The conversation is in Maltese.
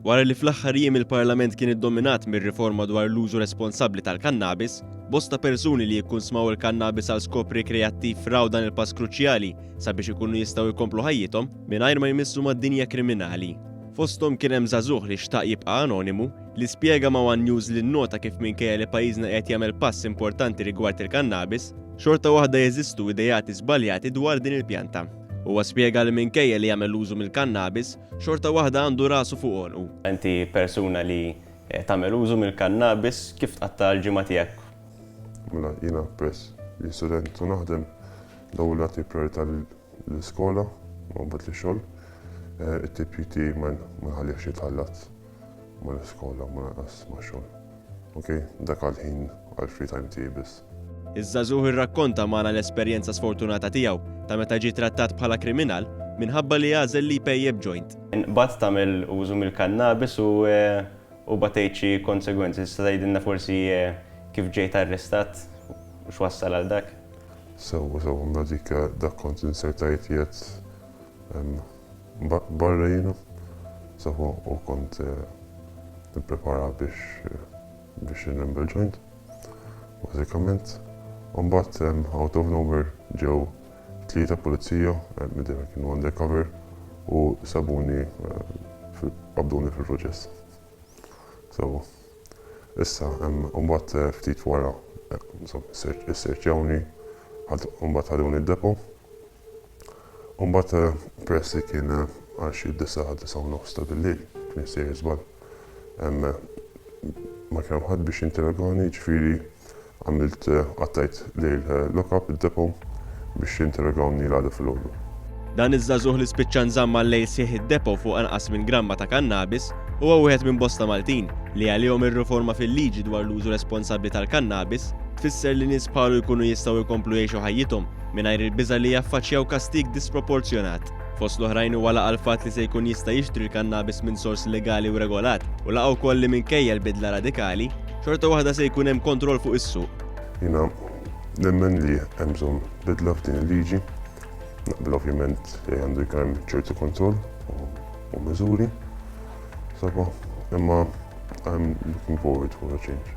Wara li fl-aħħar jiem il-Parlament kien iddominat mir-riforma dwar l-użu responsabbli tal-kannabis, bosta persuni li jkun smaw il-kannabis għal skop rikreattiv raw dan il-pass kruċjali sabiex ikunu jistgħu jkomplu ħajjithom mingħajr ma jmissu mad-dinja kriminali. Fosthom kien hemm żagħżugħ li xtaq jibqa' anonimu li spjega ma' One News li nnota kif minkejja li pajjiżna qiegħed jagħmel pass importanti rigward il-kannabis, xorta waħda jeżistu ideati żbaljati dwar din il-pjanta. Huwa spjega li minkejja li jagħmel użu mill-kannabis, xorta waħda għandu rasu fuq għonqu. Inti persuna li tagħmel użu mill-kannabis, kif tqatta' l-ġimgħa tiegħek? Mela jiena peress li student u naħdem, l-ewwel nagħti prijorità lill-iskola u mbagħad lix-xogħol. It-tipjip tiegħi ma nħallihx jitħallat. Ma l-iskola u ma lanqas ma' xogħol. Ok, dak għall-ħin għall-free time tiegħi biss. Iż-żagħżugħ irrakkonta magħna l-esperjenza sfortunata tiegħu ta' meta ġie trattat bħala kriminal minħabba li għażel li jpejjep joint. Inqbadt tagħmel użu mill-kannabis u u batejt xi konsegwenzi. Tista' tgħidilna forsi kif ġejt arrestat u x'wassal għal dak? Sewwa, sewwa, mela dik dak kont insert għajt qiegħed hemm. barra jiena saħu u kont nipprepara biex biex inrembel joint bażikament u mbagħad out of nowhere ġew tlieta pulizija midher kienu undercover u sabuni qabduni fil-proċess. So, issa u mbagħad ftit wara isserċjawni mbagħad ħaduni d-depo U mbagħad peress li kien għal xi disa' għal disa' u nofs ta' bil-lejl, kien jissejjer żball, ma kien hemm ħadd biex jinterrogani, jiġifieri għamilt qattajt lejl lock-up, id-depo, biex jinterrogawni l-għada filgħodu. Dan iż-żagħżugħ li spiċċa nżamm għal-lejl sħiħ id-depo fuq anqas minn gramma ta' kannabis huwa wieħed minn bosta Maltin li għalihom ir-riforma fil-liġi dwar l-użu responsabbli tal-kannabis tfisser li nies bħalu jkunu jistgħu jkomplu jgħixu ħajjithom mingħajr il-biża' li jaffaċċjaw kastig disproporzjonat. Fost l-oħrajn huwa laqa' l-fatt li se jkun jista' jixtri l-kannabis minn sors legali u regolat u laqa' wkoll li minkejja l-bidla radikali, xorta waħda se jkun hemm kontroll fuq is-suq. Jiena nemmen li hemm bżonn bidla f'din il-liġi. Naqbel ovvjament li għandu jkun hemm ċertu kontroll u miżuri. Saba, imma I'm looking forward for a change.